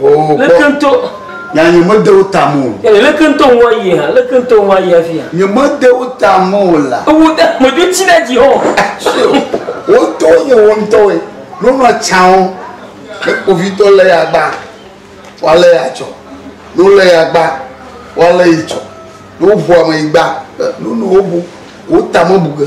Oh, leke ŋutɔ ya nye mede wo ta mo eh, leke ŋutɔ ŋua yi ha leke ŋutɔ ŋua yi afia nye mede wo ta mo la ewu de medzo tsi ɖe dzi hɔ wotɔ nye wo ŋutɔwoe nonɔ tsawo ne kpovitɔ lé ya gba woalé ya tsɔ ne wolé ya gba woalé yi tsɔ ne woʋu ame yi gba nono wobu wotame bu ge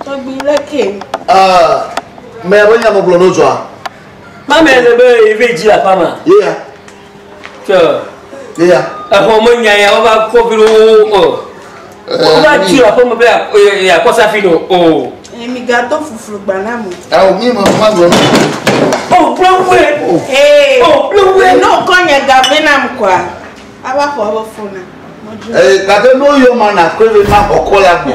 Tɔgbi le ke. Ah, mɛ be nya megblɔ no zɔa. Ma mɛ le be ive dzi la pama. Ye ya. Ke. Ye ya. Exɔ me nya ya ova kɔ bi wo o. Ova dzi la pama be ya kɔ safi no o. Emi ga to fuflu gba na mo. Ah, mi ma ma gblɔ. Oh, blowwe. Eh. Oh, blowwe. No kɔ nya ga be na mo kwa. Ava kɔ ava fona. Eh, ka be no yo mana ko be ma kɔ la gbo.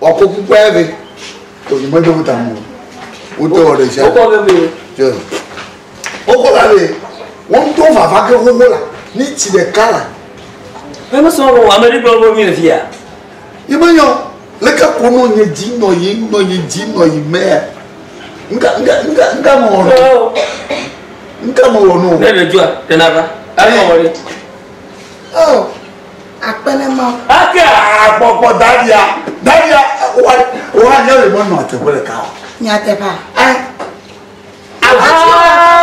Wakɔ kukua ya ve. Oyi me do ta mo. Wo to ɔɖe ja. Wokɔ ve ve. Tse. Wokɔ la ve. Wo to vava ke xoxo la. Ni tsi ɖeka la. Ƒe me sɔ wɔ ame ɖe gblɔ wo mi le fia. Yi me nyɔ. Leke ko nɔ nye dzi nɔ yi nɔ nye dzi nɔ yi mɛ. Nka nka nka nka mɔ wɔ nɔ. Nka mɔ wɔ nɔ. Ne le jua, tena va. Ayi mɔ wɔ ni. Oh. Akpe ne ma. Ake agbɔgbɔ dadia dadia wa wa ne le mɔnɔ te bele ka. Nya te pa. Eh. Avuwo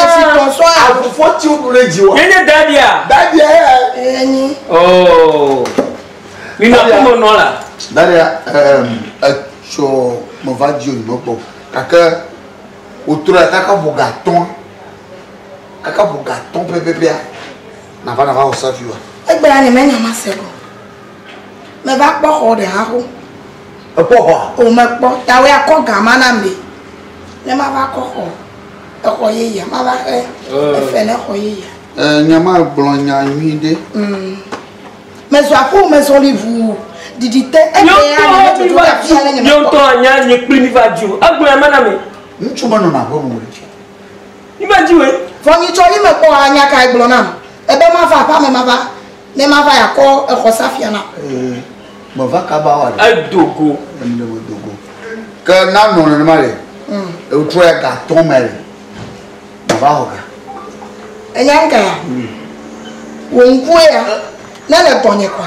esi kɔ so avufo ti odu le ji wa. Nenye dadia. Dadia eh. Enyi. Oh. Mi ma ko mɔnɔ la. Dadia eh etsɔ mo va ji onyi mo kpɔ. Kake otura kaka voga tɔn. Kaka voga tɔn pepepea. Nava nava wɔ savi wa. Egbe la ne menya ma se ko. Me va kpɔ xɔ ɖe ha ko. Ekpɔ xɔ? O me kpɔ. Ta we akɔ ga ma na me. Ne ma va kɔ xɔ. Exɔ ye ya ma va xe. Eh. Efe ne xɔ ye ya. Eh, nya ma gblɔ nya nyui de. Mm. Me zɔ apo me zɔ li vu. Didi te. Egbe ya ne me tutu ka fia ne nyama. Yo to anya ni kpli mi va ju. Egbe ya ma na me. Nchu ma no na ho mo. Yime dzi woe. Vɔ nyi tsɔ yime kpɔ wa nya kae gblɔ nam ebe ma va aƒa me ma va ne ma va ya kɔ exɔ sa fia na. Ee, me va kaba wa ɖe. Edo go. Em ɖe me do go. Ke na nɔ nene ma le. Mm. Ewu trɔ ya ga tɔ me le. Ma va ho ga. Enya nka ya? Mm. Wo ŋkue ya. Ne le tɔ nye kwa.